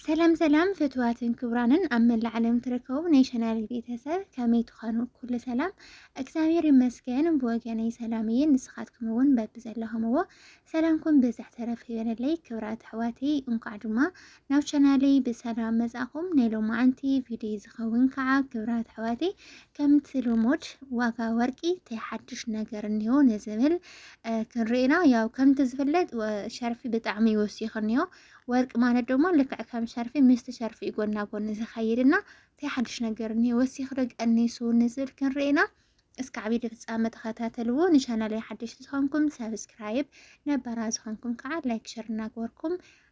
ሰላም ሰላም ፍትዋትን ክብራንን ኣብ መላእ ዓለም ትርከቡ ናይ ሸናሪ ቤተሰብ ከመይ ትኾኑ? ኩሉ ሰላም እግዚኣብሔር ይመስገን ብወገነይ ሰላም እየ። ንስኻትኩም እውን በቢ ዘለኹምዎ ሰላምኩም ብዝሕ ተረፍ ይበለለይ። ክብራት ኣሕዋተይ እንኳዕ ድማ ናብ ሸናለይ ብሰላም መጻኹም። ናይ ሎማዓንቲ ቪድዮ ዝኸውን ከዓ ክብራት ኣሕዋተይ ከምቲ ልሙድ ዋጋ ወርቂ እንታይ ሓድሽ ነገር እኒሆ ንዝብል ክንርኢና ያው ከምቲ ዝፍለጥ ሸርፊ ብጣዕሚ ይወሲኽ እኒሆ ወርቂ ማለት ደሞ ልክዕ ከም ሸርፊ ምስቲ ሸርፊ እዩ ጎና ጎኒ ዝኸይድ እና እንታይ ሓድሽ ነገር እኒ ወሲኽ ዶ ቀኒሱ ንዝብል ክንርኢና እስከ ዓብዪ ፍፃመ ተኸታተልዎ ንቻናል ሓድሽ ዝኾንኩም ሰብስክራይብ ነበራ ዝኾንኩም ከዓ ላይክ ሸር እናገበርኩም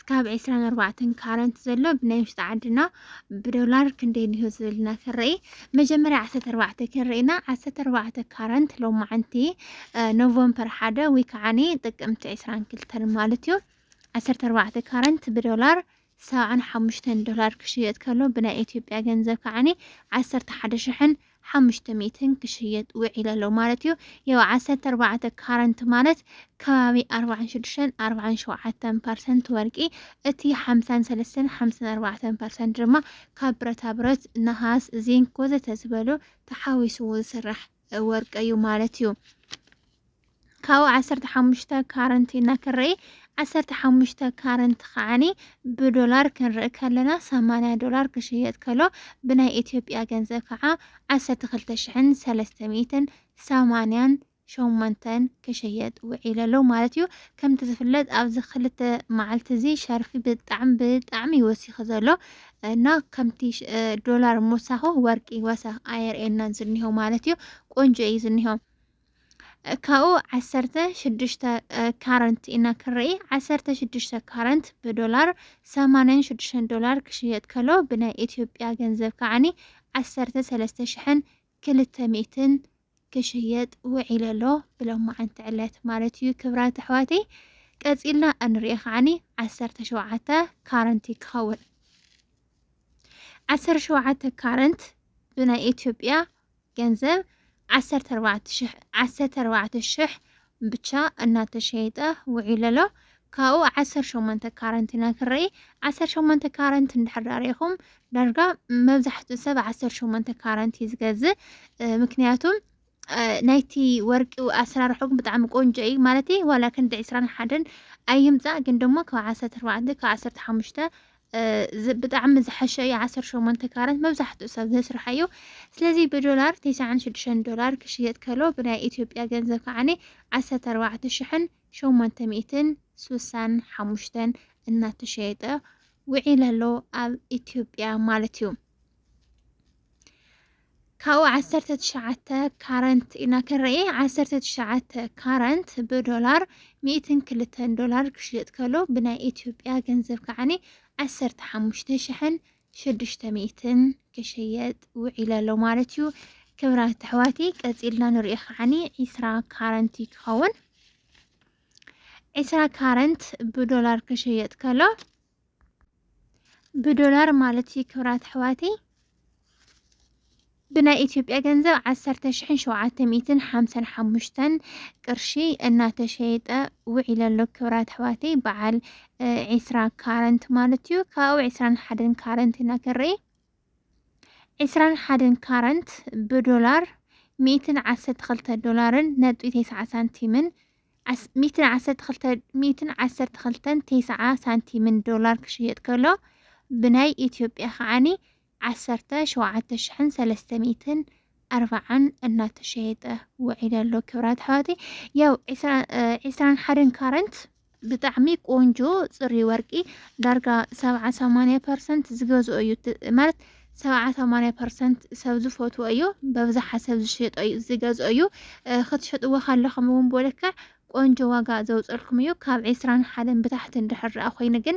ስካብ ዕስራን ኣርባዕተን ካረንት ዘሎ ብናይ ውሽጢ ዓድና ብዶላር ክንደይ እንሆ ዝብልና ክንርኢ መጀመርያ ዓሰርተ ኣርባዕተ ክንርኢና ዓሰርተ ኣርባዕተ ካረንት ሎማዓንቲ ኖቨምበር ሓደ ወይ ከዓኒ ጥቅምቲ ዕስራን ክልተን ማለት እዩ ዓሰርተ ኣርባዕተ ካረንት ብዶላር ሰብዓን ሓሙሽተን ዶላር ክሽየጥ ከሎ ብናይ ኢትዮጵያ ገንዘብ ከዓኒ ዓሰርተ ሓደ ሽሕን ሓሙሽተ ሚእትን ክሽየጥ ውዒሉ ኣሎ ማለት እዩ። ያው ዓሰርተ ኣርባዕተ ካራንት ማለት ከባቢ ኣርባዓን ሽዱሽተን ኣርባዓን ሸውዓተን ፐርሰንት ወርቂ እቲ ሓምሳን ሰለስተን ሓምሳን ኣርባዕተን ፐርሰንት ድማ ካብ ብረታ ብረት፣ ነሃስ፣ ዚንክ ወዘተ ዝበሉ ተሓዊስዎ ዝስራሕ ወርቂ እዩ ማለት እዩ። ካብኡ ዓሰርተ ሓሙሽተ ካረንት ኢና ክንርኢ ዓሰርተ ሓሙሽተ ካረንት ከዓኒ ብዶላር ክንርኢ ከለና ሰማንያ ዶላር ክሽየጥ ከሎ ብናይ ኢትዮጵያ ገንዘብ ከዓ ዓሰርተ ክልተ ሽሕን ሰለስተ ሚእትን ሰማንያን ሸሞንተን ክሽየጥ ውዒሉ ኣሎ ማለት እዩ ከምቲ ዝፍለጥ ኣብዚ ክልተ መዓልቲ እዚ ሸርፊ ብጣዕሚ ብጣዕሚ ይወሲኺ ዘሎ እና ከምቲ ሽ- እ፣ ዶላር ምውሳኹ ወርቂ ወሰኽ ኣየርእየናን ዝኒሆ ማለት እዩ ቆንጆ እዩ ዝኒሆ ካብኡ ዓሰርተ ሽዱሽተ ካረንት ኢና ክንርኢ ዓሰርተ ሽዱሽተ ካረንት ብዶላር ሰማንያን ሽዱሽተን ዶላር ክሽየጥ ከሎ ብናይ ኢትዮጵያ ገንዘብ ከዓኒ ዓሰርተ ሰለስተ ሽሕን ክልተ ሚእትን ክሽየጥ ውዒሉ ኣሎ ብሎማዓንቲ ዕለት ማለት እዩ ክብራት ኣሕዋተይ ቀፂልና እንሪኦ ከዓኒ ዓሰርተ ሸውዓተ ካረንት ክኸውን ዓሰርተ ሸውዓተ ካረንት ብናይ ኢትዮጵያ ገንዘብ ዓሰርተ ኣርባዕተ ሽሕ ዓሰርተ ኣርባዕተ ሽሕ ብቻ እናተሸየጠ ውዒሉ ኣሎ። ካብኡ ዓሰርተ ሸሞንተ ካረንት ኢና ክንርኢ። ዓሰርተ ሸሞንተ ካረንት እንድሕር ዳኣ ርኢኹም ዳርጋ መብዛሕትኡ ሰብ ዓሰርተ ሸሞንተ ካረንት እዩ ዝገዝእ እ፣ ምክንያቱ እ፣ ናይቲ ወርቂ ኣሰራርሑ ግን ብጣዕሚ ቆንጆ እዩ ማለት ዋላ ክንዲ ዕስራን ሓደን ኣይምፃእ ግን ደሞ ካብ ዓሰርተ ኣርባዕተ ካብ ዓሰርተ ሓሙሽተ ብጣዕሚ ዝሓሸ እዩ ዓሰርተ ሸሞንተ ካራት መብዛሕትኡ ሰብ ዘስርሐ እዩ ስለዚ ብዶላር ቴስዓን ሽዱሽተን ዶላር ክሽየጥ ከሎ ብናይ ኢትዮጵያ ገንዘብ ከዓኒ ዓሰርተ ኣርባዕተ ሽሕን ሸሞንተ ሚእትን ስሳን ሓሙሽተን እናተሸየጠ ውዒል ኣሎ ኣብ ኢትዮጵያ ማለት እዩ ካብኡ ዓሰርተ ትሽዓተ ካረንት ኢና ክንርኢ ዓሰርተ ትሽዓተ ካረንት ብዶላር ሚእትን ክልተን ዶላር ክሽየጥ ከሎ ብናይ ኢትዮጵያ ገንዘብ ከዓኒ ዓሰርተ ሓሙሽተ ሽሕን ሽዱሽተ ሚእትን ክሽየጥ ውዒለ ኣሎ ማለት እዩ ክብራት ኣሕዋቲ ቀፂልና ንሪኦ ከዓኒ ዒስራ ካረንት እዩ ክኸውን ዒስራ ካረንት ብዶላር ክሽየጥ ከሎ ብዶላር ማለት እዩ ክብራት ኣሕዋተይ ብናይ ኢትዮጵያ ገንዘብ ዓሰርተ ሽሕን ሸውዓተ ሚእትን ሓምሳን ሓሙሽተን ቅርሺ እናተሸየጠ ውዒለ ኣሎ ክብራት ኣሕዋተይ በዓል ዒስራ ካረንት ማለት እዩ ካብኡ ዒስራን ሓደን ካረንት ኢና ክንርኢ ዒስራን ሓደን ካረንት ብዶላር ሚእትን ዓሰርተ ክልተ ዶላርን ነጥቢ ተስዓ ሳንቲምን ሚእትን ዓሰርተ ክልተ ሚእትን ዓሰርተ ክልተን ቴስዓ ሳንቲምን ዶላር ክሽየጥ ከሎ ብናይ ኢትዮጵያ ከዓኒ ዓሰርተ ሸውዓተ ሽሕን ሰለስተ ሚእትን ኣርባዓን እናተሸየጠ ውዒለ ኣሎ ክብራት ኣሕዋተይ ያው ዒስራ- እ፣ ዒስራን ሓደን ካረንት ብጣዕሚ ቆንጆ ፅሪ ወርቂ ዳርጋ ሰብዓ ሰማንያ ፐርሰንት ዝገዝኦ እዩ እቲ- ማለት ሰብዓ ሰማንያ ፐርሰንት ሰብ ዝፈትዎ እዩ በብዝሓ ሰብ ዝሸጦ እዩ ዝገዝኦ እዩ ክትሸጥዎ ካለኹም እውን ብልክዕ ቆንጆ ዋጋ ዘውፀልኩም እዩ ካብ ዒስራን ሓደን ብታሕቲ እንድሕር ርኣ ኮይኑ ግን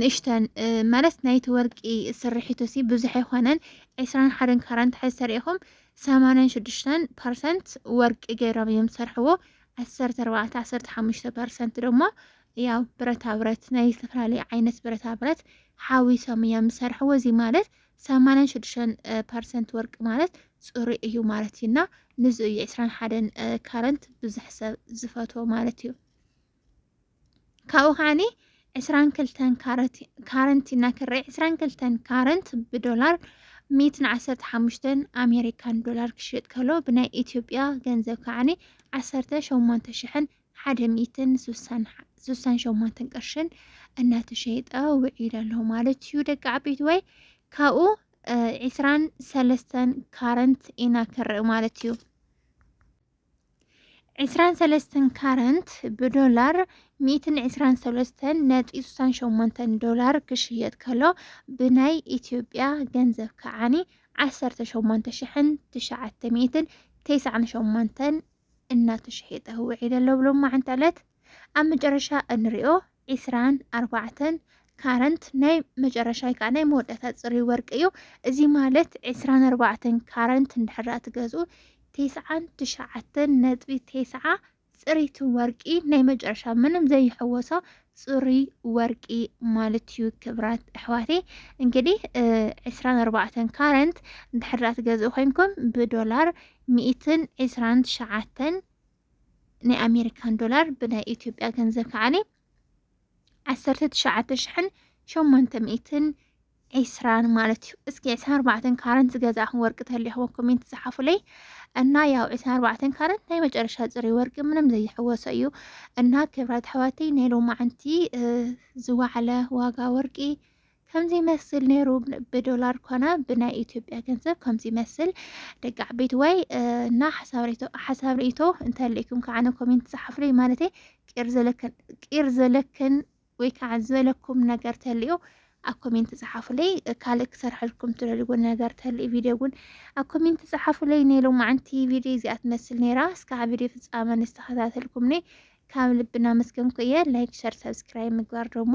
ንእሽተን ማለት ናይቲ ወርቂ ስርሒቱ ሲ ብዙሕ ኣይኮነን ዕስራን ሓደን ካራን ትሕዝ ተሪኢኹም ሰማንያን ሽዱሽተን ፐርሰንት ወርቂ ገይሮም እዮም ዝሰርሕዎ ዓሰርተ ኣርባዕተ ዓሰርተ ሓሙሽተ ፐርሰንት ደሞ ያው ብረታ ብረት ናይ ዝተፈላለዩ ዓይነት ብረታ ብረት ሓዊሶም እዮም ዝሰርሕዎ። እዚ ማለት ሰማንያን ሽዱሽተን ፐርሰንት ወርቂ ማለት ፅሩይ እዩ ማለት እዩ እና ንዚ እዩ ዕስራን ሓደን ካረንት ብዙሕ ሰብ ዝፈትዎ ማለት እዩ። ካብኡ ከዓኒ ዕስራን ክልተን ካረንት ኢና ክርኢ ዕስራን ክልተን ካረንት ብዶላር ሚትን ዓሰርተ ሓሙሽተን ኣሜሪካን ዶላር ክሽየጥ ከሎ ብናይ ኢትዮጵያ ገንዘብ ከዓኒ ዓሰርተ ሸሞንተ ሽሕን ሓደ ሚእትን ስሳን ሸሞንትን ቅርሽን እናተሸይጠ ውዒል ኣሎ ማለት እዩ ደቂ ዓበይቲ ወይ ካብኡ ዒስራን ሰለስተን ካረንት ኢና ክንርኢ ማለት እዩ ዕስራን ሰለስተን ካረንት ብዶላር ሚእትን ዕስራን ሰለስተን ነጥቢ ስሳን ሸሞንተን ዶላር ክሽየጥ ከሎ ብናይ ኢትዮጵያ ገንዘብ ከዓኒ ዓሰርተ ሸሞንተ ሽሕን ትሽዓተ ሚእትን ተስዓን ሸሞንተን እናተሸሔጠ ውዒለ ኣሎ ብሎማዕንቲ ዕለት ኣብ መጨረሻ እንሪኦ ዒስራን ኣርባዕተን ካረንት ናይ መጨረሻ ወይ ከዓ ናይ መወዳእታ ፅሩይ ወርቂ እዩ። እዚ ማለት ዒስራን ኣርባዕተን ካረንት እንድሕር ትገዝኡ ቴስዓን ትሽዓተን ነጥቢ ቴስዓ ፅሪቲ ወርቂ ናይ መጨረሻ ምንም ዘይሕወሶ ፅሩይ ወርቂ ማለት እዩ ክብራት ኣሕዋቴ እንግዲህ ዕስራን ኣርባዕተን ካረንት ድሕራ ትገዝኡ ኮይንኩም ብዶላር ሚእትን ዕስራን ትሽዓተን ናይ ኣሜሪካን ዶላር ብናይ ኢትዮጵያ ገንዘብ ከዓኒ ዓሰርተ ትሽዓተ ሽሕን ሸሞንተ ሚእትን ዒስራን ማለት እዩ እስኪ ዕስራን ኣርባዕተን ካረንት ዝገዛእኹም ወርቂ ተሊኹዎ ኮሜንት ዝሓፉለይ እና ያው ዕስራን ኣርባዕተን ካረንት ናይ መጨረሻ ፅሪ ወርቂ ምንም ዘይሕወሶ እዩ እና ክብራት ኣሕዋተይ ናይ ሎማዓንቲ ዝዋዕለ ዋጋ ወርቂ ከምዚ ይመስል ነይሩ ብዶላር ኮነ ብናይ ኢትዮጵያ ገንዘብ ከምዚ ይመስል ደቂ ዓበይቲ ወይ እና ሓሳብ ርእቶ እንተልእኩም ከዓነ ኮሜንት ፀሓፍለይ ማለት ቂር ዘለክን ቂር ዘለክን ወይ ከዓ ዘለኩም ነገር ተልዮ ኣብ ኮሜንት ፀሓፉለይ ካልእ ክሰርሐልኩም ትደልዎ ነገር ተልእ ቪድዮ እውን ኣብ ኮሜንት ፀሓፉለይ ናይ ሎማዓንቲ ቪድዮ እዚኣ ትመስል ነይራ እስካዕ ቪድዮ ፍፃመ ንዝተኸታተልኩምኒ ካብ ልብና መስገንኩ እየ ላይክ ሸር ሰብስክራይብ ምግባር ደግሞ